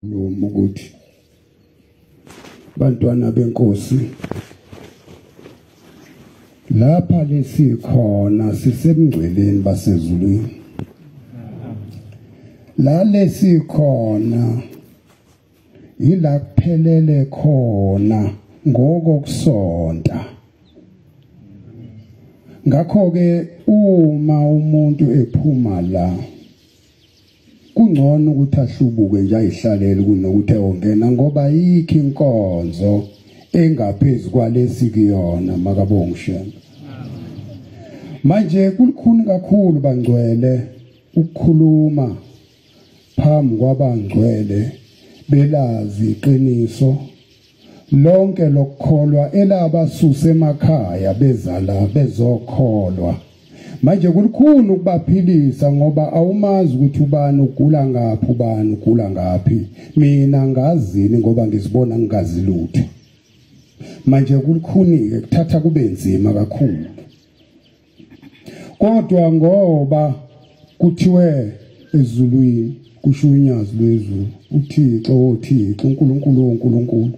noma ukuthi bantwana benkosi lapha lesikhona sisemngceleni basezulwini la lesikhona yila kuphelele khona ngokokusonta ngakho ke uma umuntu ephuma la Kungcono ukuthi ahlubuke nje ayihlalele kunokuthi ewongena ngoba yikho inkonzo engaphezulu kwalesi kuyona makabongishela. Manje kulikhuni kakhulu bangcwele ukukhuluma phambi kwabangcwele belazi iqiniso lonke lokukholwa elabasusa emakhaya bezala bezokholwa manje kulikhulu ukubaphilisa ngoba awumazi ukuthi ubani ugula ngaphi ubani ugula ngaphi mina ngazini ngoba ngizibona ngingazi lutho manje kulikhunike kuthatha kube nzima kakhulu kodwa ngoba kuthiwe ezulwini kusho unyazi lwezulu uthixo wothixo unkulunkulu wonkulunkulu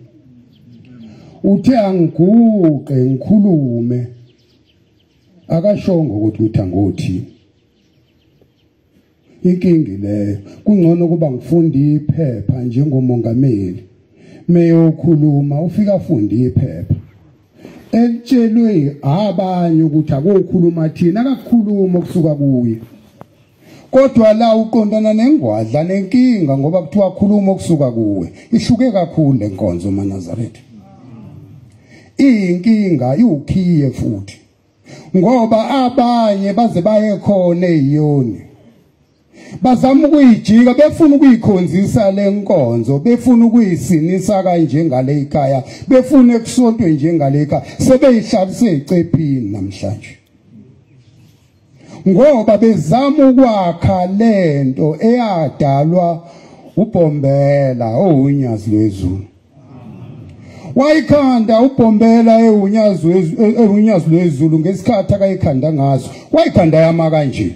uthe angiguqe ngikhulume akashongo ukuthi uthi angothini inkingi leyo kungcono kuba ngifunde iphepha njengomongameli meyokhuluma ufika afunde iphepha elitshelwe abanye ukuthi akokhuluma thina akakhuluma okusuka kuye kodwa la uqondana nengwadla nenkinga ngoba kuthiwa khuluma okusuka kuwe ihluke kakhulu lenkonzo manazaretha iyinkinga iwukhiye futhi ngoba abanye baze baye khona eyoni bazama ukuyijika befuna ukuyikhonzisa lenkonzo befuna ukuyisinisa kanje ngale ikhaya befuna ekusontwe njengale ikhaya sebeyihlalise icephini namhlanje ngoba bezama ukwakha lento eyadalwa ubhombela owunyazi lwezulu wayikhanda ubhombela ewunyazi ewunyazi lwezulu ngesikhathi akayikhanda ngaso wayikhanda yama kanje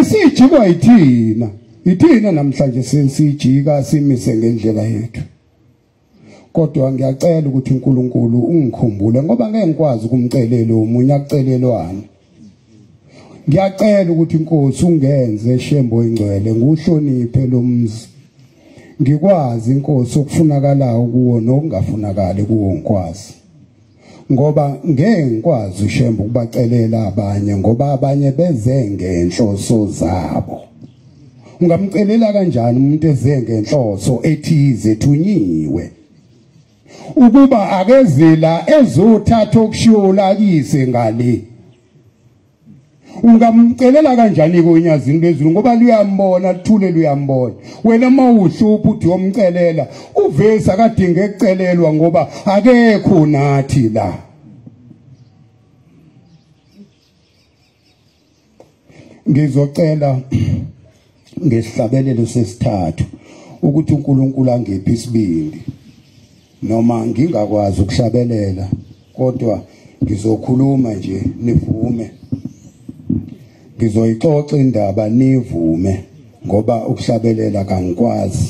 isijikwa yithina yithina namhlanje sensijika simise ngendlela yethu kodwa ngiyacela ukuthi uNkulunkulu ungikhumbule ngoba ngeke ngikwazi ukumcelela umunye akucelelwane ngiyacela ukuthi inkosi ungenze shembo ingcwele nguhloniphe lomzi ngikwazi inkosi okufunakalayo kuwo nokungafunakali kuwo ngikwazi ngoba ngeke ngikwazi ushembo ukubacelela abanye ngoba abanye beze ngenhloso zabo ungamcelela kanjani umuntu eze ngenhloso ethize thunyiwe ukuba akezila ezothatha okushula kise ngale ungamcelela kanjani konyazini lwezulu ngoba luyambona luthule luyambona wena uma uhlupha uthi yomcelela uvesi akadinge kucelelwa ngoba akekho nathi la ngizocela ngesihlabelelo sesithathu ukuthi uNkulunkulu angiphe isibindi noma ngingakwazi ukuhlabelela kodwa ngizokhuluma nje nivume ngizoyixoxa indaba nivume ngoba ukuhlabelela kangikwazi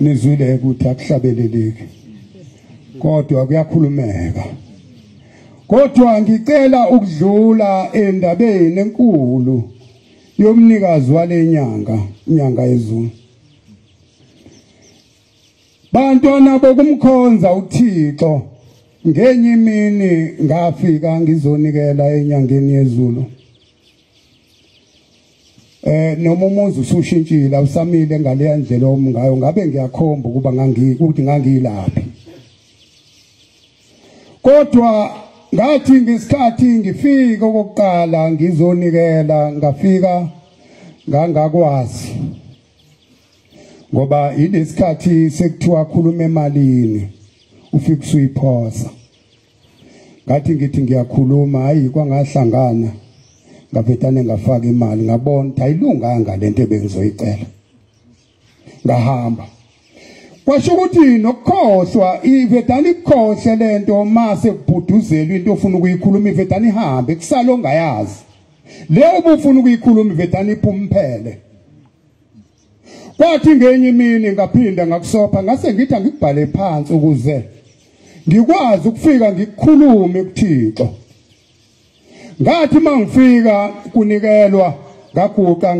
nizwile ukuthi akuhlabeleleki kodwa kuyakhulumeka kodwa ngicela ukudlula endabeni enkulu yomnikazi walenyanga inyanga yezulu Bantwana bokumkhonza uThixo ngenye imini ngafika ngizonikela enyangeni yezulu eh noma umuzi usushintshile awusamile ngaleya ndlela omngayo ngabe ngiyakhomba ukuba ngangi ukuthi ngangilaphi kodwa ngathi ngesikhathi ngifika okokuqala ngizonikela ngafika ngangakwazi ngoba yilesikhathi sekuthiwa khuluma emalini ufika usuyiphosa ngathi ngithi ngiyakhuluma hayi kwangahlangana ngavetane ngafaka imali ngabona ukuthi ayilunganga lento ebengizoyicela ngahamba kwasho ukuthi nokukhohlwa ivedani ikhohle lento mase kubhuduzelwa into ofuna ukuyikhuluma ivedani ihambe kusalo ngayazi leyo ubufuna ukuyikhuluma ivedani iphumphele kwathi ngenye imini ngaphinda ngakusopha ngase ngithi angikubhale phansi ukuze ngikwazi ukufika ngikhulume kuThixo ngathi mangifika kunikelwa ngaguqa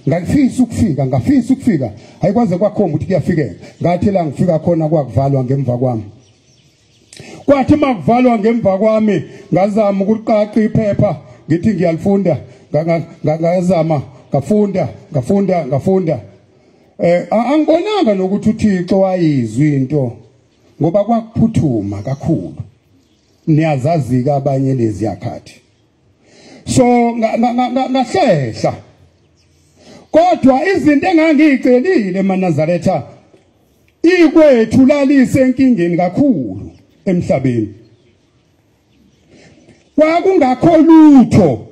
ngafisa ukufika ngafisa ukufika ayikwaze kwakhomba ukuthi kuyafikeka ngathi la ngifika khona kwakuvalwa ngemva kwami kwathi makuvalwa ngemva kwami ngazama ukuqaqa iphepha ngithi ngiyalifunda ngazama ngafunda ngafunda ngafunda eh angibonanga nokuthi uThixo wayizwa into ngoba kwakuphuthuma kakhulu niyazazika abanye lezi yakhathi so ngahlehla kodwa izinto engangiyicelile manazaretha ikwethu lalise enkingeni kakhulu emhlabeni kwakungakho lutho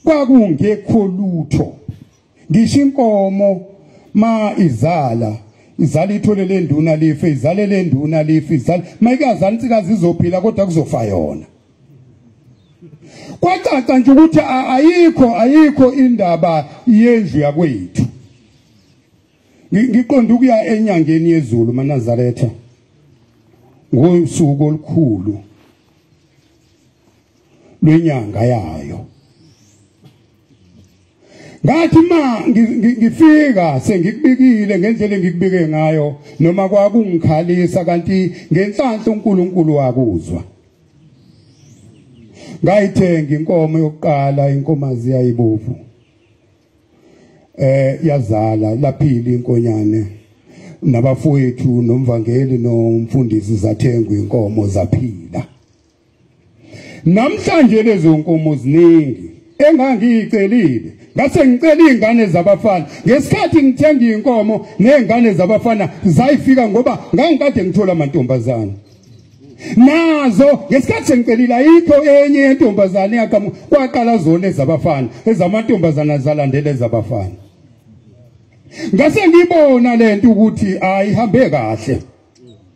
kwakungekho lutho ngisho inkomo ma izala izala ithole le nduna life izale le nduna life izala mayikazala insikazi izophila kodwa kuzofa yona kwacaca nje ukuthi ayikho ayikho indaba yendlu yakwethu ngiqonda ukuya enyangeni yezulu manazaretha ngosuku olukhulu lwenyanga yayo ngathi ma ngifika sengikubikile ngendlela engikubike ngayo noma kwakungikhalisa kanti ngenhlanhla uNkulunkulu wakuzwa ngayithenga inkomo yokuqala inkomazi yayibovu eh yazala laphila inkonyane nabafowethu nomvangeli nomfundisi zathengwa inkomo zaphila namhlanje lezo nkomo ziningi engangiyicelile ngase ngicela izingane zabafana ngesikhathi ngithenga inkomo nezingane zabafana zayifika ngoba ngangikade ngithola amantombazana nazo ngesikhathi sengicelile ayikho enye yentombazane yaqhamuka kwaqala zona ezabafana ezamantombazana zalandela ezabafana ngase ngibona lento ukuthi ayihambe kahle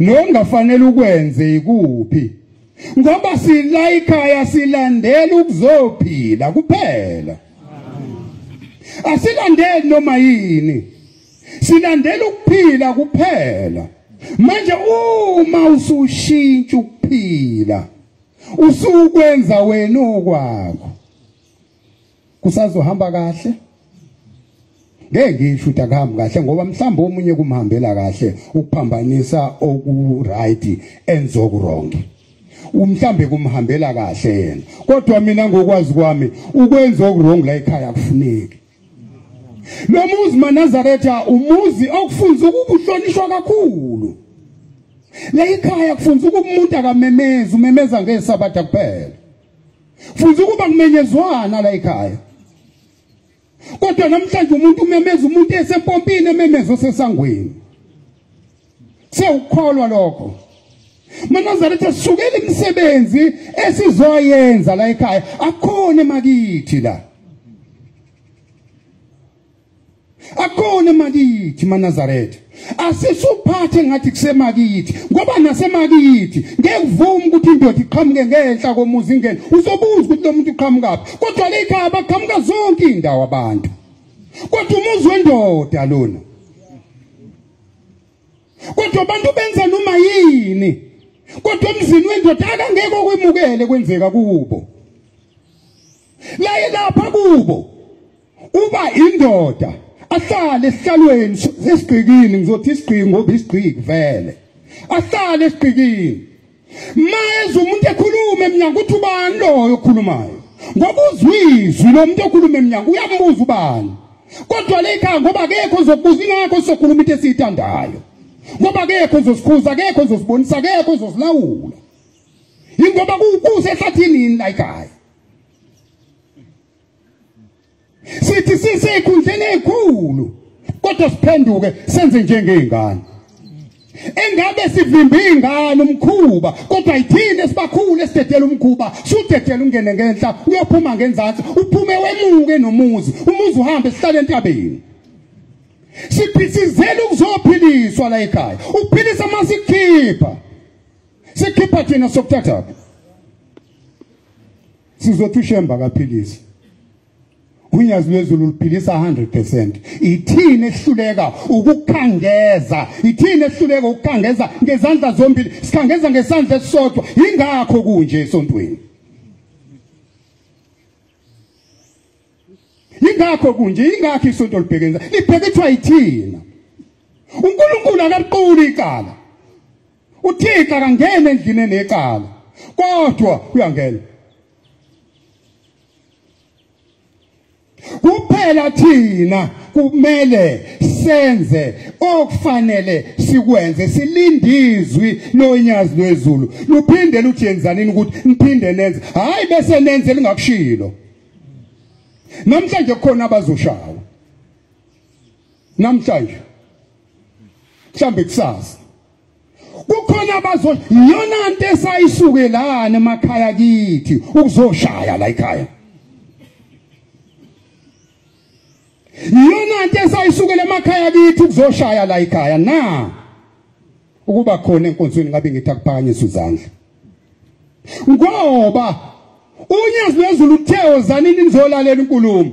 nongafanele ukwenze ikuphi ngoba sila ikhaya silandela ukuzophila kuphela asilandeli noma yini silandela ukuphila kuphela manje uma usushintsha ukuphila usukwenza wena okwakho kusazohamba kahle ngeke ngisho ukuthi akuhambi kahle ngoba mhlawumbe omunye kumhambela kahle ukuphambanisa okuright enzokurong umhlambe kumhambela kahle yena kodwa mina ngokwazi kwami ukwenza okurong la ekhaya kufuneki lo muzi manazaretha umuzi okufunza ukubuhlonishwa kakhulu la ekhaya kufunza ukumuntu akamemezi umemeza ngesabatha kuphela futhi ukuba kumenyezwana la ekhaya kodwa namhlanje umuntu umemeza umuntu esempompini ememeza osesangweni sewukholwa lokho manazana ethi sukela imisebenzi esizoyenza la ekhaya akhona emakithi la akone makithi manazaretha asisuphathe ngathi kusemakithi ngoba nasemakithi ngeke uvume ukuthi indoda iqhamuke ngenhla komuzi ingene uzobuza ukuthi lo muntu uqhamukaphi kodwa le ikhaya baqhamuka zonke iy'ndawo abantu kodwa umuzi wendoda lona kodwa abantu benza noma yini kodwa emzini wendoda akangeke okwemukele kwenzeka kubo laye lapha kubo uba indoda ahlale esihlalweni sesigqikini ngizothi isigqiki ngoba isigqiki vele ahlale esigqikini mayeza umuntu ekhuluma emnyango ukuthi ubani loyo okhulumayo ngoba uzwizwi lo muntu okhuluma emnyango uyambuza ubani kodwa le khaya ngoba akekho ozokubuza ingakho sizokhuluma into esiyithandayo ngoba akekho ozosikhuza akekho ozosibonisa akekho ozosilawula yingoba kusehlathini yini la ekhaya sithi sisekhundleni ezikhulu kodwa siphenduke senze njengezingane engabe sivimba ingane umkhuba kodwa yithini esibakhulu esidedela umkhuba sudedela ungene ngenhla uyophuma ngenzansi uphume wemuke nomuzi umuzi uhambe sihlale entabeni siphithizela ukuzophiliswa la ekhaya ukuphilisa masikhipha sikhipha thina sokuthathaphi sizothi ushemba akaphilisi unyazi lwezulu luphilisa 100% ithini ehluleka ukukhangeza ithini ehluleka ukukhangeza ngezandla zombili sikhangeza ngesandla esisodwa ingakho kunje esontweni ingakho kunje ingakho isonto libhekenza libhekethwa yithina uNkulunkulu akaquli icala uthixo akangeni endlini enecala kodwa uyangena kuphela thina kumele senze okufanele sikwenze silindizwi lonyazi lwezulu luphinde luthi yenzanini ukuthi niphinde nenze hayi bese nenze lingakushilo namhlanje kukhona abazoshawa namhlanje mhlambe kusasa kukhona abazo yona into esayisukelana emakhaya kithi ukuzoshaya la ekhaya yona into esayisukela emakhaya kithi ukuzoshaya la ekhaya na ukuba khona enkonzweni ngabe ngithi akuphakanyiswe izandla ngoba unyezi lwezulu uthe wozanini nizolalela inkulumo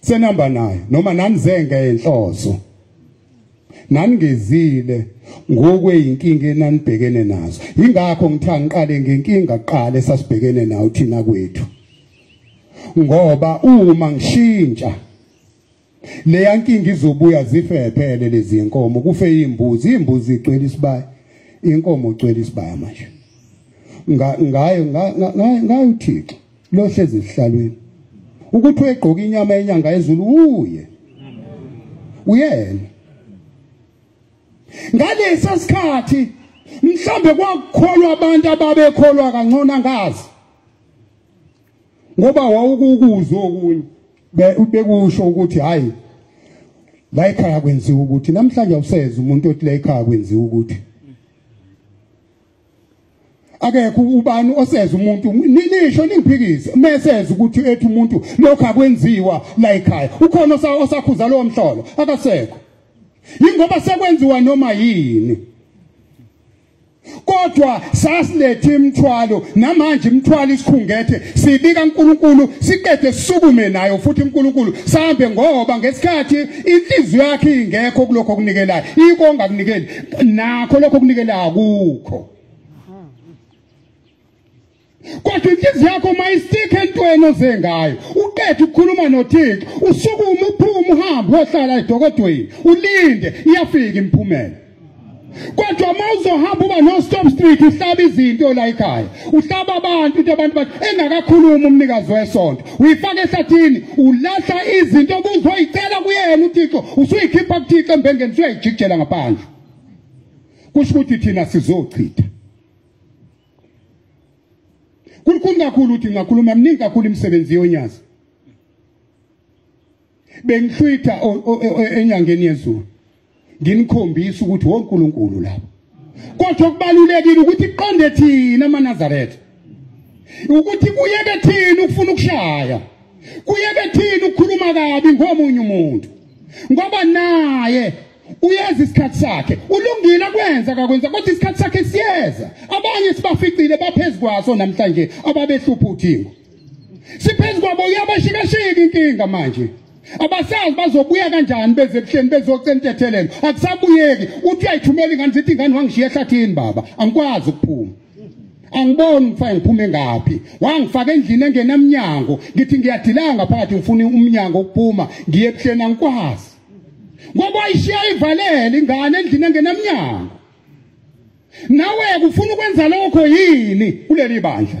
senamba naye noma nanizenge enhloso naningezile ngokweyinkinga enanibhekene nazo ingakho ngithe angiqale ngenkinga kuqala esasibhekene nayo thina kwethu ngoba uma ngishintsha leya nkinga izobuya zifephele lezi nkomo kufe imbuzi imbuzi igcwele isibaya inkomo igcwele isibaya manje ngayo ngayo uthixo lohlezi esihlalweni ukuthi uyegqoka inyama yenyanga yezulu uye uyena ngalesi sikhathi mhlambe kwakukholwa abantu ababekholwa kangcono angazi ngoba wawukukuzwa okunye bekusho ukuthi hayi la ekhaya kwenziwa ukuthi namhlanje awuseze umuntu othi la ekhaya kwenziwa ukuthi akekho ubani oseza umuntu nisho ningiphikise meseza ukuthi ethi umuntu lokho akwenziwa la ekhaya ukhona osakhuza lowo mhlolo akasekho yingoba sekwenziwa noma yini kodwa sasilethe imthwalo namanje imthwalo isikhungethe sibika uNkulunkulu siqede sisukume nayo futhi uNkulunkulu sambe ngoba ngesikhathi inhliziyo yakhe ingekho kulokho okunikelayo ikonga kunikeli nakho lokho kunikela akukho kodwa inhliziyo yakho uma isikhe entweni oze ngayo uqeda ukukhuluma nothixo usukume uphume uhambe wohlala edokodweni ulinde iyafika imiphumela kodwa uma uzohamba uba no-stop street uhlaba izinto la ekhaya uhlaba abantu into abantu bathi engakakhulumi umnikazi wesonto uyifaka ehlathini ulahla izinto obuzoyicela kuyena uthixo usuyikhipha kuthixo embengeni usuyayijikijela ngaphandle kusho ukuthi thina sizochitha kulikhulu kakhulu ukuthi ngakhuluma mningi kakhulu imisebenzi yonyazi bengihlwitha enyangeni yezulu nginikhombisa ukuthi wonkulunkulu lapho kodwa okubalulekile ukuthi iqonde thina amanazaretha ukuthi kuyeke thina ukufuna ukushaya kuyeke thina ukukhuluma kabi ngomunye umuntu ngoba naye uyazi isikhathi sakhe ulungile akwenza kakwenza kodwa isikhathi sakhe siyeza abanye sibaficile baphezukwaso namhlanje ababehlupha uthingo siphezu kwabo uyabashikashika inkinga manje abasazi bazobuya kanjani beze ebuhleni bezocela intethelelo akusabuyeki uthi uyayithumela ingane zithi ingane wangishiya ehlathini baba angikwazi ukuphuma angiboni ngifake ngiphume ngaphi wangifaka endlini engenamnyango ngithi ngiyadilanga phakathi ngifuna umnyango ukuphuma ngiye ebuhleni angikwazi ngoba ayishiya ivalele ingane endlini engenamnyango nawe kufuna ukwenza lokho yini kuleli bandla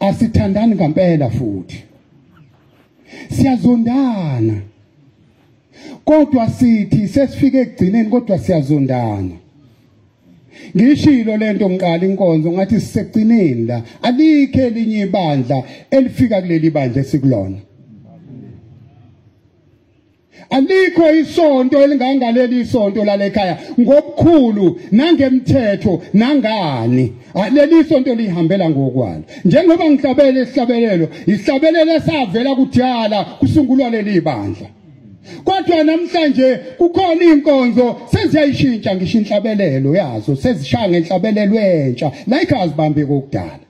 asithandani ngampela futhi siyazondana kodwa sithi sesifike ekugcineni kodwa siyazondana ngishilo lento ngiqala inkonzo ngathi sisekugcineni la alikho elinye ibandla elifika kuleli bandla esikulona Alikho isonto elingangaleli isonto lalekhaya ngokukhulu nangemthetho nangani. Leli sonto lihambela ngokwalo. Njengoba ngihlabele isihlabelelo, isihlabelelo esavela kudala kusungulwa leli bandla. Kodwa namhlanje kukhona inkonzo seziyayishintsha ngisho inhlabelelo yazo sezishaya ngenhlabelelo entsha la ikhazibambe kokudala.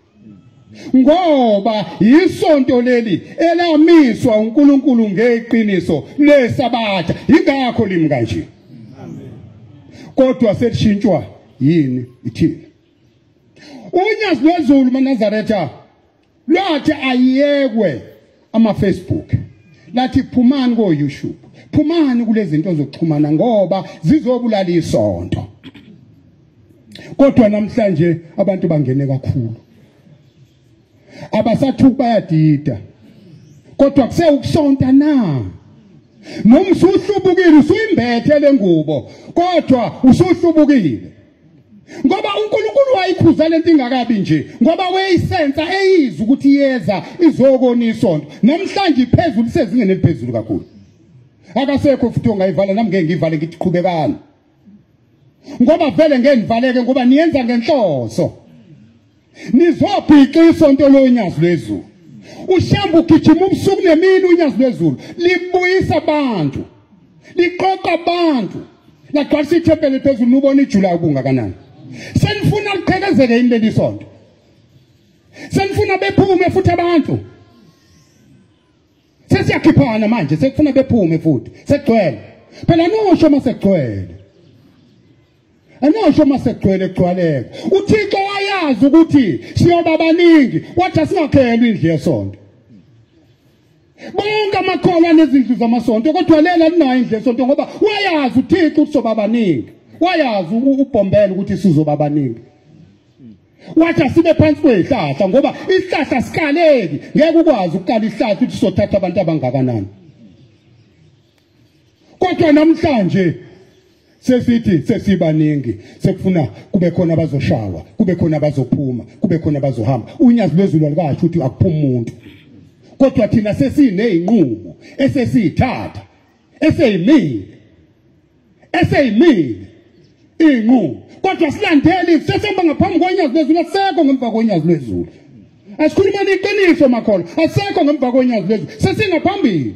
ngoba yisonto leli elamiswa uNkulunkulu ngeqiniso lesabatha ingakho limi kanje kodwa selishintshwa yini ithini unyazi lwezulu manazaretha lwathi ayiyekwe ama Facebook lathi phumani ko YouTube phumani kulezinto zokuxhumana ngoba zizobulala isonto kodwa namhlanje abantu bangene kakhulu abasathuki bayadida kodwa kuse ukusonta na nomsuhlubukile usuyimbethe lengubo kodwa usuhlubukile ngoba uNkulunkulu wayikhuza lento ingakabi nje ngoba weyisensa eyizwa ukuthi iyeza izokona isonto namhlanje iphezulu sezingene liphezulu kakhulu akasekho futhi ongayivala nami ngeke ngivale ngithi qhubekani ngoba vele ngeke ngivaleke ngoba niyenza ngenhloso nizobhixa isonto lonyazi lwezulu ushamba ugijima ubusuku nemini unyazi lwezulu libuyisa abantu liqoqa abantu lagcwalisa ithempeli phezulu nubona ijula ubungakanani senifuna liqhekezeke yini leli sonto senifuna bephume futhi abantu sesiyakhiphana manje sekufuna bephume futhi sekugcwele phela anosho uma sekugcwele anosho uma sekugcwele kugcwaleka uthixo wayazi ukuthi siyoba baningi wathi asingakhelwa indlu yesonto bonke amakholwa nezindlu zamasonto kodwa lela linayo indlu yesonto ngoba wayazi uthixo ukuthi soba baningi wayazi ubhombela ukuthi sizoba baningi wathi asibe phansi kwezihlahla ngoba isihlahla sikaleki ngeke ukwazi ukukala isihlahla ukuthi sothatha abantu abangakanani kodwa namhlanje sesithi sesibaningi sekufuna kube khona abazoshawa kube khona abazophuma kube khona abazohamba unyazi lwezulu alikasho ukuthi akuphuma umuntu kodwa thina sesineyinqumo esesiyithatha eseyimile eseyimile inqubo kodwa silandeli sesihamba ngaphambi konyazi lwezulu asekho ngemva konyazi lwezulu asikhuluma neqiniso makholo asekho ngemva konyazi lwezulu sesingaphambili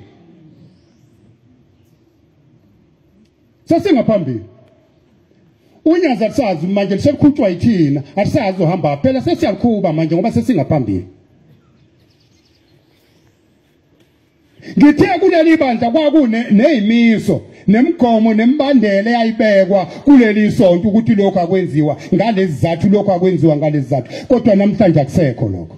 sesingaphambili unyazi alisazi manje lisekhutshwa yithina alisazi uhamba phela sesiyakhuba manje ngoba sesingaphambili Ngithe kuleli bandla kwakune nezimiso nemigomo nemibandela eyayibekwa kuleli sonto ukuthi lokho akwenziwa ngalezi zathu lokho akwenziwa ngalezi zathu kodwa namhlanje akusekho lokho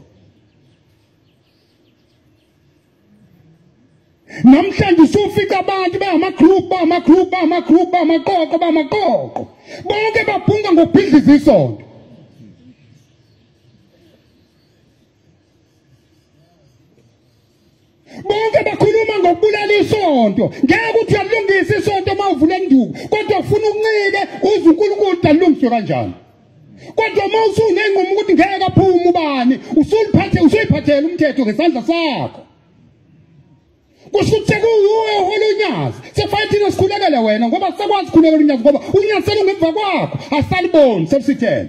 namhlanje usufica abantu bangama-group bangama-group bangama-group bangamaqoqo bangamaqoqo bonke babhunga ngokubhidliza isonto bonke bakhuluma ngokubulala isonto ngeke uthi uyalungisa isonto uma uvula induku kodwa ufuna uncike uze uNkulunkulu dalungiswe kanjani kodwa uma usunenqumo ukuthi ngeke aphume ubani usuliphathe usuyiphathela umthetho ngesandla sakho kusho ukuthi sekuwuwe ohola unyazi sekufanele thina sikhulekele wena ngoba sikwazi ukukhulekela unyazi ngoba unyazi selungemva kwakho asaliboni selusithele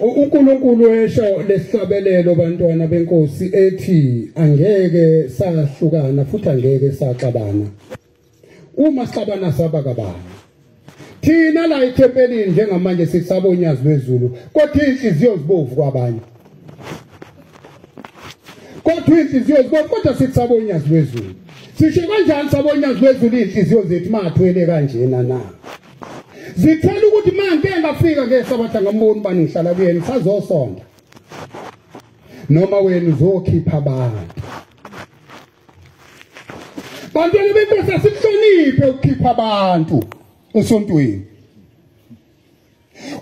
UNkulunkulu esho lesihlabelelo bantwana benkosi ethi angeke sahlukana futhi angeke saxabana. Uma sixabana saba kabani? Thina la ethempelini njengamanje sisaba unyazi lwezulu kodwa inhliziyo zibovu kwabanye. Kodwa inhliziyo zibovu kodwa sisaba unyazi lwezulu. Sisho kanjani saba unyazi lwezulu inhliziyo zethu mathwele kanjena na? zithela ukuthi manje engafika ke sabatha ngamboni bani ngihlala kuyena sazosonda noma wena uzokhipha abantu bantwana benkosi asikuhloniphe ukukhipha abantu esontweni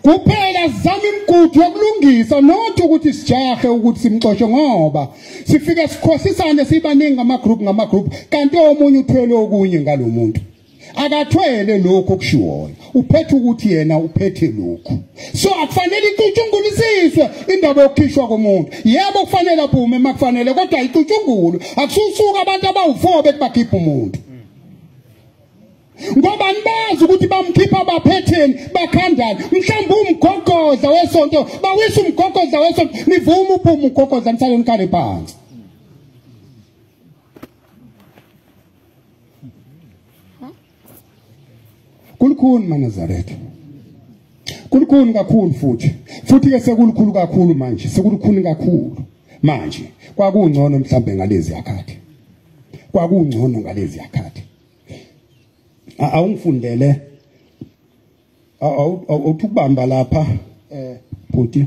kuphela sizama imigudu yokulungisa not ukuthi sijahe ukuthi simxoshe ngoba sifike sikhohlisane sibaningi ngama group ngama group kanti omunye uthwele okunye ngalomuntu akathwele lokho okushiwoyo uphethe ukuthi yena uphethe lokho so akufanele icutshungulisiswe indaba yokukhishwa komuntu yebo kufanele aphume makufanele kodwa icutshungulwe akususuka abantu abawu-four bethi bakhipha umuntu ngoba nibazi ukuthi bamkhipha abaphetheni bakhandana mhlawumbe umgogodla wesonto bawisa umgogodla wesonto nivuma uphume umgogodla nisale nikhale phansi kulukhuni manazaretha kulukhuni kakhulu futhi futhi ke sekulukhulu kakhulu manje sekulukhuni kakhulu manje kwakungcono mhlambe ngalezi yakhathi kwakungcono ngalezi yakhathi awungifundele awuthukubamba lapha eh bhuti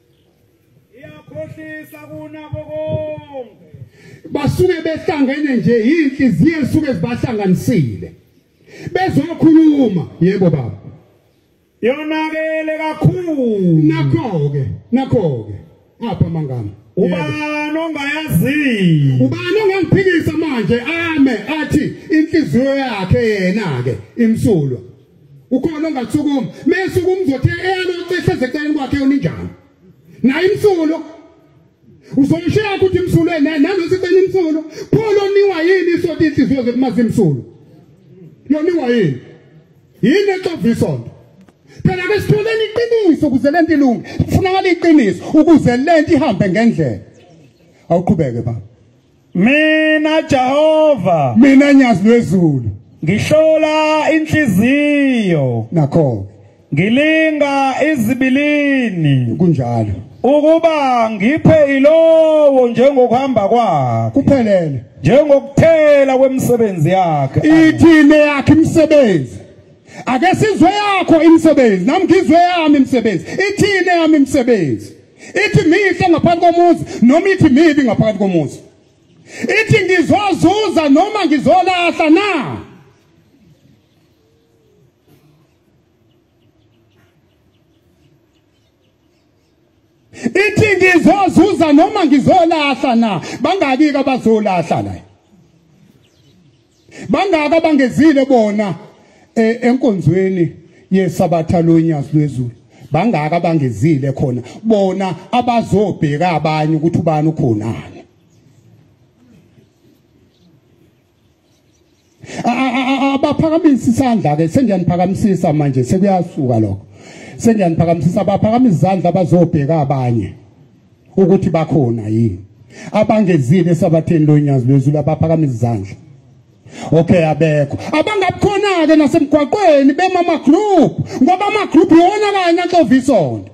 iyakhohlisa kunabo konke basuke behlangene nje inhliziyo esuke zibahlanganisile bezokhuluma yebo baba yonakele kakhulu nakho ke nakho ke apha mangama ubani ongayaziyo ubani ongangiphikisa manje ame athi inhliziyo yakhe yena ke imsulwa ukhona ongasukuma mese ukumzothe eyalocisha ezeceleni kwakhe uninjani naye imsulo uzomshiya ukuthi imsulo nanothi cela imsulo khona oniwa yini isonto inhliziyo zekumazi imsulo yoniwa yini yini exova isonto phela ke sitholeni iqiniso ukuze lento ilunge kufunakala iqiniso ukuze lento ihambe ngendlela awuqhubeke baba Mina Jehova. Mina nyazi lwezulu. Ngihlola inhliziyo. Nakho. Ngilinga izibilini. Kunjalo. Ukuba ngiphe ilowo njengokuhamba kwakhe. Kuphelele. Njengokuthela kwemisebenzi yakhe. Ithine yakhe imisebenzi. Ake sizwe yakho imisebenzi. Nami ngizwe yami imisebenzi. Ithine yami imisebenzi. ithi mihle ngaphansi komuzi noma ithi mibi ngaphansi komuzi ithi ngizozuza noma ngizolahla na ithi ngizozuza noma ngizolahla na bangaki abazolahla la Bangaka bangezile bona eh, enkonzweni yesabatha lonyazi lwezulu. Bangaka bangezile khona bona abazobheka abanye ukuthi ubani ukhonani. Abaphakamisa isandla ke sengiyaniphakamsisa manje sekuyasuka lokho. Sengiyaniphakamsisa abaphakamisa izandla abazobheka abanye. ukuthi bakhona yini abangezile esabatheni lonyazi lwezulu abaphakama izandla okay abekho abangabukhona ke nasemgwaqweni bemama group ngoba ama group yona kanye axovisonto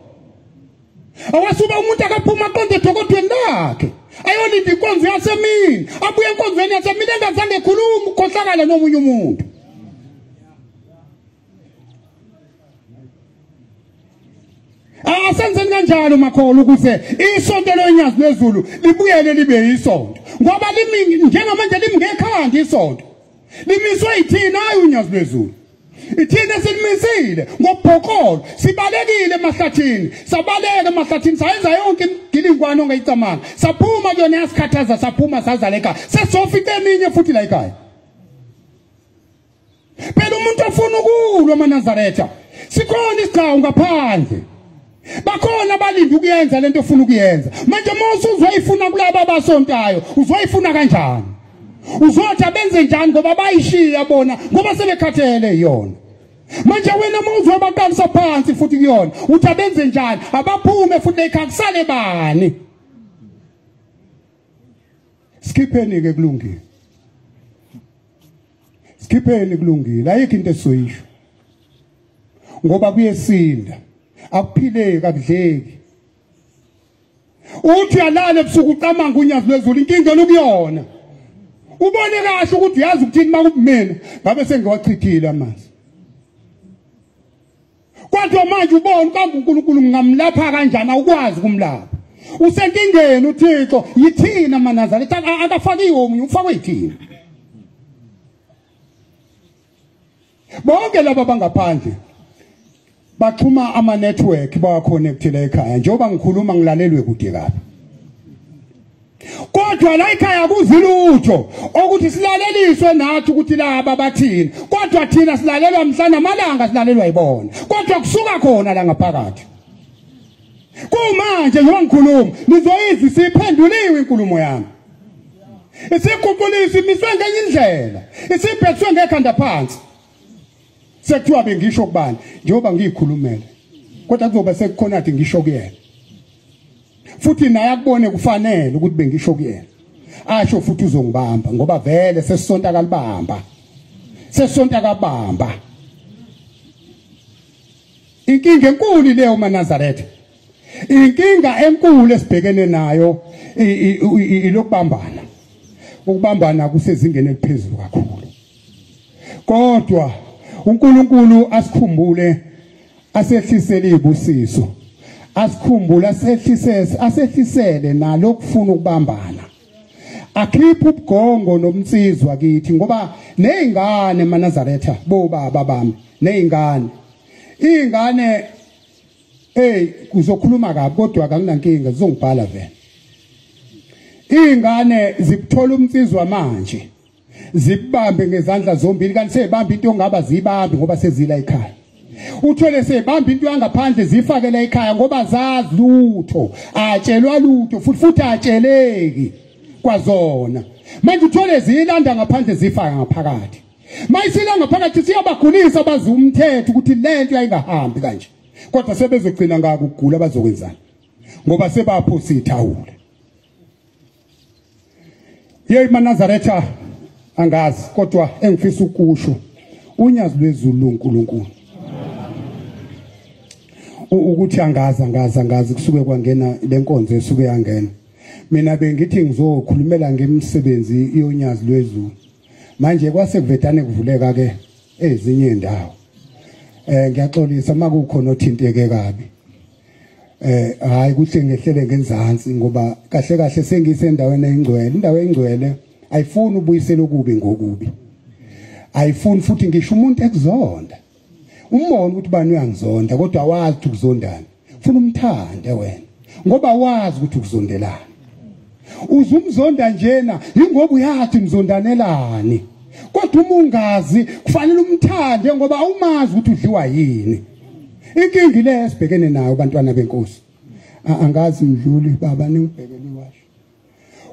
awasuba umuntu akaphuma aqonde edokodweni lakhe ayolinda inkonzo yasemini abuye enkonzweni yasemini engazange ekhuluma ukhohlakala nomunye umuntu asenzeni kanjalo makholo ukuze isonto lonyazi lwezulu libuyele libe yisonto ngoba limi njengamanje limngekhanda isonto limiswe yithina ayi unyazi lwezulu ithina silimisile ngobhokolo sibalekile emahlathini sabaleka emahlathini sayenza yonke imgilingwane ongayicamanga saphuma kuyona yasikhathaza saphuma sazaleka sesofica eminye futhi la ekhaya phela umuntu ofuna ukulwa amanazaretha sikhona isigcawu ngaphandle bakhona abalindi ukuyenza lento ofuna ukuyenza manje uma usuzoyifuna kulaba abasontayo uzoyifuna kanjani uzothi abenze njani ngoba bayishiya bona ngoba sebekhathele yona manje wena uma uzobaqalisa phansi futhi kuyona uthi abenze njani abaphume futhi ekhaya kusale bani sikhipheni-ke kulungile sikhipheni kulungile ayikho into esizoyisho ngoba kuyesinda akuphileki akudleki uthi uyalala ebusuku ucamanga unyazi lwezulu inkinga lokuyona ubone kahle ukuthi uyazi ukuthini uma kubumina ngabe sengiwachithile amanzi Kodwa manje ubona uba uNkulunkulu ngingamlapha kanjani awukwazi kumlapha. Usenkingeni uThixo yithina maNazaretha akafakiwe omunye ufakwe yithina. Bonke laba bangaphandle baxhuma ama network bawaconnectile ekhaya njengoba ngikhuluma ngilalelwe kude kabi. kodwa la ikhaya kuzi lutho okuthi silaleliswe nathi ukuthi laba bathini kodwa thina silalelwa mhlana amalanga silalelwa yibona kodwa kusuka khona la ngaphakathi kumanje njengoba ngikhuluma nizoyizi siphenduliwe inkulumo yami isikhuphulisi miswe ngenye indlela isibhekiswe ngekhanda phansi sekuthiwa bengisho kubani njengoba ngiyikhulumele kodwa kuzoba sekukhona athi ngisho kuyena futhi naye akubone kufanele ukuthi bengisho kuyena asho futhi uzongibamba ngoba vele sesisonta akalibamba sesisonta akabamba inkinga enkulu leyo manazaretha inkinga enkulu esibhekene nayo ilokubambana ukubambana kusezingeni eliphezulu kakhulu kodwa uNkulunkulu asikhumbule asehlisele ibusiso asikhumbule asehlisele asehlisele nalo kufuna ukubambana akhiphe ubugongo nomnsizwa kithi ngoba nezingane manazaretha bo baba bami nezingane izingane hey kuzokhuluma kabi kodwa akunankinga zizongibhala vele izingane zikuthola umnsizwa manje zibambe ngezandla zombili kanti seyibamba into ongaba zibambe ngoba sezila ekhaya uthole sebamba into yangaphandle zifakela ekhaya ngoba zazi lutho atshelwa lutho futhi futhi atsheleki kwazona manje uthole ziyilanda ngaphandle zifaka ngaphakathi mayisila ngaphakathi siyabagulisa bazi umthetho ukuthi lento yayingahambi kanje kodwa sebezogcina ngakugula bazokwenzana ngoba sebapho sithawula yeyi manazaretha angazi kodwa engifisa ukusho unyazi lwezulu uNkulunkulu ukuthi angazi angazi angazi kusuke kwangena lenkonzo esuke yangena mina bengithi ngizokhulumela ngemsebenzi yonyazi lwezulu manje kwase kuvetane kuvuleka ke ezinye indawo eh ngiyaxolisa makukhona othinteke kabi eh hayi kuhle ngehlele ngenzansi ngoba kahle kahle sengisendaweni engcwele indawo engcwele ayifuni ubuyisela okubi ngokubi ayifuni futhi ngisho umuntu ekuzonda umbona ukuthi bani uyangizonda kodwa wazi ukuthi ukuzondana funa umthande wena ngoba wazi ukuthi ukuzondelana uzumzonda njena ingoba uyathi mzondanelani kodwa uma ungazi kufanele umthande ngoba awumazi ukuthi udliwa yini inkingi le esibhekene nayo bantwana benkosi angazi mdluli baba ningibhekele iwasho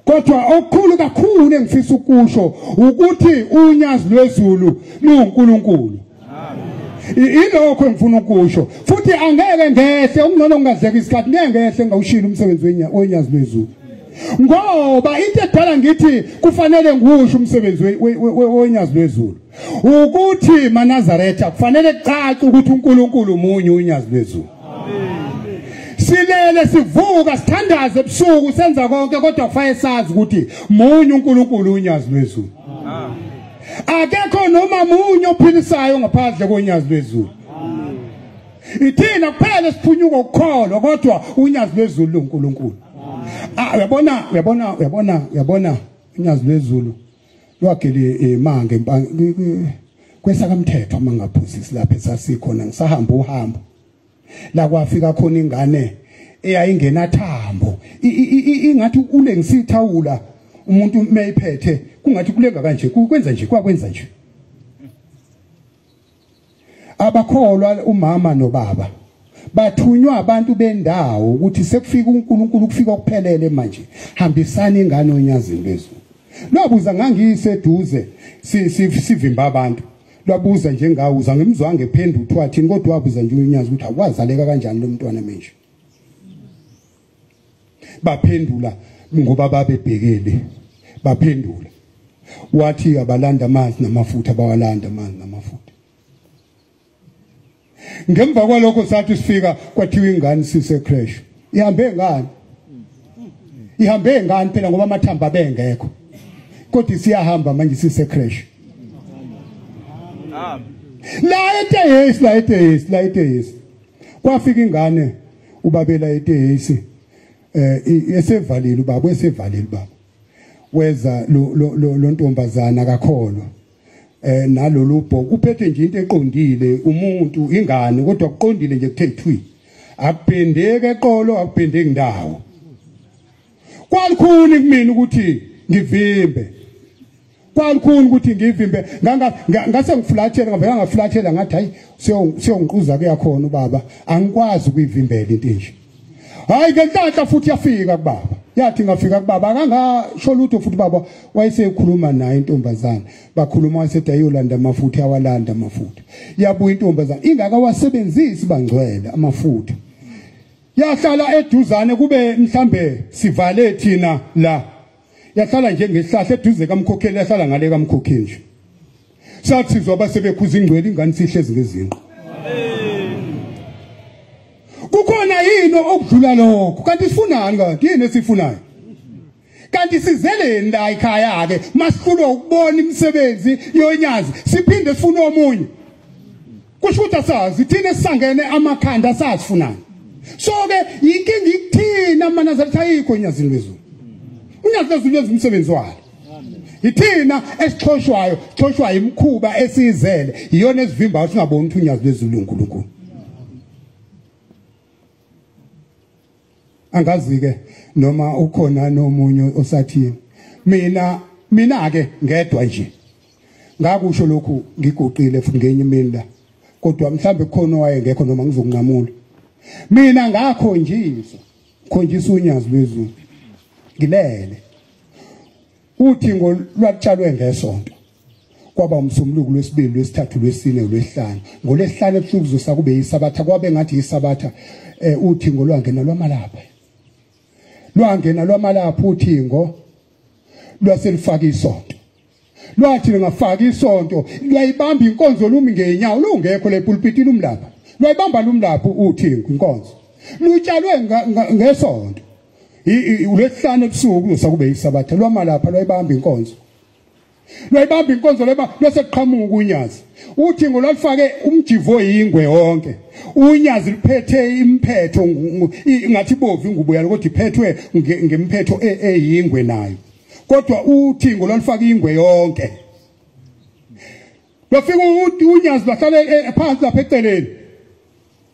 kodwa okukhulu kakhulu engifisa ukusho ukuthi unyazi lwezulu luwuNkulunkulu ilokho engifuna ukusho futhi angeke ngehle okungcono ngingazeka isikhathi ngeke ngehle ngawushila umsebenzi wenyazi lwezulu ngoba into edala ngithi kufanele ngiwusho umsebenzi wenyazi lwezulu ukuthi manazaretha kufanele kucace ukuthi uNkulunkulu munye unyazi lwezulu silele sivuka sithandaze ebusuku senza konke kodwa kufanele sazi ukuthi munye uNkulunkulu unyazi lwezulu amen akekho noma munye ophilisayo ngaphandle konyazi lwezulu ithina kuphela siphunyuka ukukholwa kodwa unyazi lwezulu luNkulunkulu ah, uyabona uyabona uyabona uyabona unyazi lwezulu lwagele imanga eh, kwesa kamthetho mangaphusisi lapha esasikhona ngisahamba uhambo la kwafika khona ingane eyayingena thambo ingathi ulengisa ithawula umuntu mayiphethe kungathi kulenga kanje kwenza nje kwakwenza nje abakholwa umama nobaba bathunywa abantu bendawo ukuthi sekufika uNkulunkulu kufika ukuphelele manje hambisani ingane onyazini bezulu lobuza ngangiyiseduze sivimba abantu lwabuza nje ngawo uzangimzwange phendu uthiwa thini kodwa wabuza nje unyazi ukuthi awazaleka kanjani lo mntwana manje baphendula ngoba babebhekele baphendula wathi abalanda amanzi namafutha bawalanda amanzi namafutha ngemva kwalokho sathi sifika kwathiwa ingane sise crash ihambe ngani ihambe ngani phela ngoba amathamba bengekho kodwa siyahamba manje sise crash la etehesi la etehesi la etehesi kwafika ingane ubabela etehesi eh esevalile ubaba esevalile baba weza lo lo ntombazana akakholwa eh nalolu bho kuphethe nje into eqondile umuntu ingane kodwa kuqondile nje kuthe thwi akuphendeke eqolo akuphendeki ndawo kwalikhuni kumina ukuthi ngivimbe kwalikhuni ukuthi ngivimbe ngase ngifulathela ngavela ngafulathela ngathi hayi siyongiquza kuyakhona ubaba angikwazi ukuyivimbela into enje hayi ke ntanhla futhi yafika kubaba yathi ngafika kubaba akangasho lutho futhi baba wayesekhuluma naye intombazana bakhuluma wasethi ayolanda amafutha awalanda amafutha yabuya intombazana ingaka wasebenzisi bangcwele amafutha yahlala eduzane kube mhlambe sivale thina la yahlala nje ngehlahla eduze kamkhokheli yahlala ngale kamkhokheli nje sathizwa basebekhuza ingcwele ingane sihlezi ngezinqo kukhona yini okudlula lokho kanti sifunani kanti yini esifunayo kanti sizeleni la ekhaya ke masihlulwa ukubona imisebenzi yonyazi siphinde sifune omunye kusho ukuthi asazi thina esisangene amakhanda asazi funani so ke yinkinga ikuthina amanazareth ayikho enyazini lwezulu unyazi lwezulu wenza umsebenzi walo yithina esixhoshwayo sixhoshwa imikhuba esiyizele iyona esivimbayo singaboni ukuthi unyazi lwezulu uNkulunkulu angazike noma ukhona nomunye osathini mina mina ke ngedwa nje ngakusho lokhu ngiguqile futhi ngenye imini la kodwa mhlambe khona wayengekho noma ngizokunqamula mina ngakho njizwa khonjisa unyazi lwezulu ngilele uthi ngolwatshalwe ngesonto kwaba umsombuluko lwesibili lwesithathu lwesine lwesihlanu ngolesihlanu ebusuku kuzosa kube yisabatha kwabe ngathi yisabatha eh uthingo lwangena lwamalapha lwangena lwamalapha uthingo lwaselifaka isonto lwathi lingafaka isonto lwayibamba inkonzo lumi ngenyawo lungekho lepulpiti lumlapha lwayibamba lumlapha uthingo inkonzo lutshalwe ngesonto ulesihlanu ebusuku kuzosa kube yisabatha lwamalapha lwayibamba inkonzo lwayibamba inkonzo leba lwase kuqhamuka unyazi uthi ngolwalifake umjivo yingwe wonke unyazi liphethe imphetho ngathi bovu ingubo yalo kodwa iphethwe ngemphetho e, eyingwe nayo kodwa uthi ngolwalifake ingwe yonke Lofika uNyazi bahlale eh, eh, phansi lapha eceleni.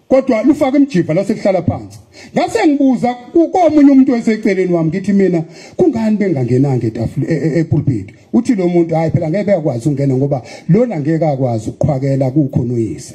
Kodwa lufaka imjiva lase kuhlala phansi. Ngase ngibuza komunye umuntu oseceleni wami ngithi mina kungani bengangenanga etafule eh, epulpit. Uthi lo muntu hayi phela ngeke bekwazi ungena ngoba lona ngeke akwazi ukuqhwakela kukho noyise.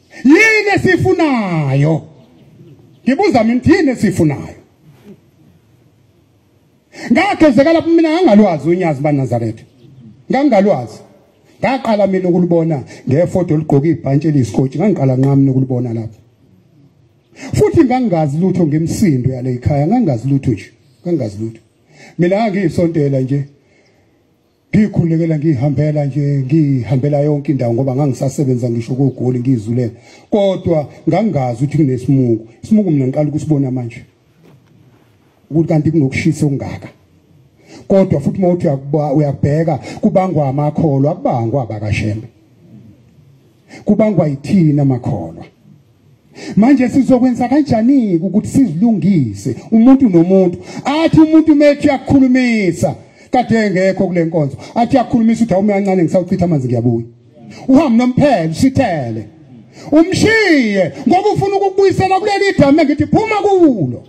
yini esifunayo ngibuza mina ukuthi yini esifunayo ngagezeka lapho mina ngangalwazi unyazi banazaretha ngangalwazi ngaqala mina ukulibona ngefoto ligqoke ibhantshi eliyisikoti ngangiqala nqami nokulibona lapho futhi ngangazi lutho ngemsindo yale ikhaya ngangazi lutho nje ngangazi lutho mina ngiyisontela nje ngikhulekela ngihambela nje ngihambela yonke indawo ngoba ngangisasebenza ngisho kogoli ngizulela kodwa ngangazi ukuthi kunesimuku isimuku mina ngiqala ukusibona manje ukuthi kanti kunokushisa okungaka kodwa futhi mawuthi uyakubheka kubangwa amakholo akubangwa abakashembe kubangwa yithina makholwa manje sizokwenza kanjani ukuthi sizilungise umuntu nomuntu athi umuntu methi uyakhulumisa kade engekho kule nkonzo athi uyakhulumisa uthi awume kancane ngisawuchitha amanzi ngiyabuya uhambe nomphelo usithele umshiye ngoba ufuna ukukubuyisela kuleli dama ngithi phuma kulo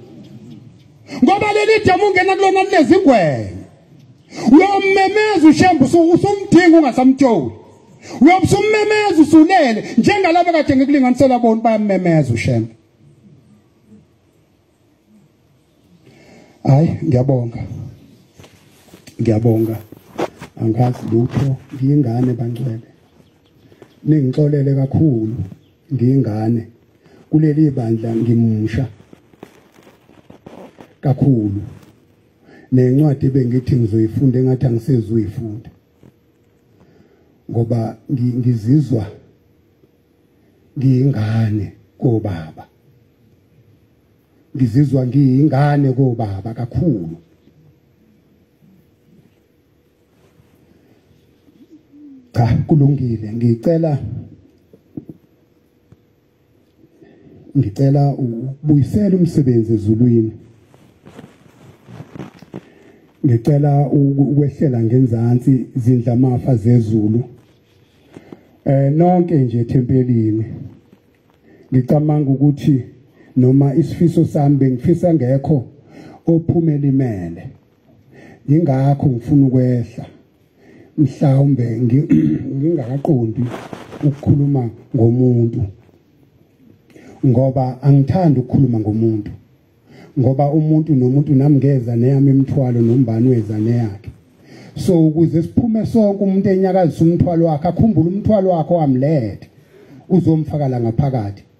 ngoba leli dama ungena kulona lezingwenya uyomemeza ushembe usumdinga ungasamtsholi uyobe usummemeza usulele njengalabo kade ngikulinganisela bona bayamemeza ushembe hayi ngiyabonga ngiyabonga angazi lutho ngiyingane bangcwele ningixolele kakhulu ngiyingane kuleli bandla ngimusha kakhulu nencwadi bengithi ngizoyifunda engathi angisezuyifunda ngoba ngizizwa ngiyingane kobaba ngizizwa ngiyingane kobaba kakhulu cha kulungile ngicela ngicela ubuyisele umsebenzi ezulwini ngicela ukwehlela ngenzansi izindla mafa zezulu eh nonke nje ethempelini ngicabanga ukuthi noma isifiso sami bengifisa ngekho ophumela imele ingakho ngifuna ukwehla mhlawumbe ngingaqondi ukukhuluma ngomuntu ngoba angithandi ukukhuluma ngomuntu ngoba umuntu nomuntu nami ngeza neyami imithwalo nombani weza neyakhe so ukuze siphume sonke umuntu enyakazisa umthwalo wakhe akhumbule umthwalo wakhe wamlethe uzomfakala ngaphakathi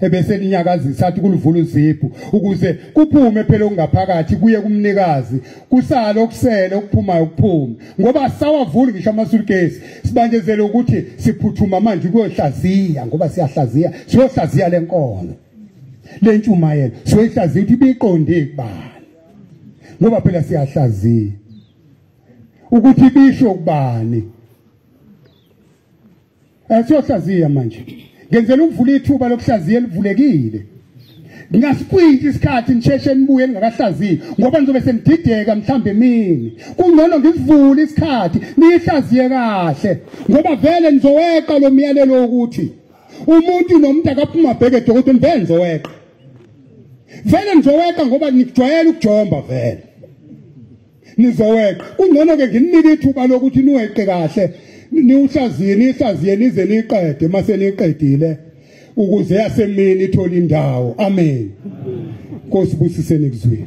ebese linyakazisa athi kulivula uzibhu ukuze kuphume phela okungaphakathi kuye kumnikazi kusale okusele okuphumayo kuphume ngoba sawavuli ngisho amasulukesi sibanjezele ukuthi siphuthuma manje kuyohlaziya ngoba siyahlaziya siyohlaziya le nkono le ntshumayelo siyoyihlaziya ukuthi ibiqonde kubani ngoba phela siyahlaziya ukuthi bisho kubani Eh, siyohlaziya manje ngenzela ukuvula ithuba lokuhlaziya elivulekile ngasikwintsha isikhathi nisheshe nibuye ningakahlaziyi ngoba nizobe senidideka mhlawumbe emini kungcono ngivule isikhathi niyihlaziye kahle ngoba vele nizoweqa lo myalelo wokuthi umuntu nomuntu akaphuma bheke dokotela vele nizoweqa vele nizoweqa ngoba nijwayele ukujomba vele nizoweqa kungcono ke nginike ithuba lokuthi niweqe kahle niwuhlaziye nihlaziye nize niqede mase niqedile ukuze yasemini ithole indawo amen Nkosi busiseni kuzwini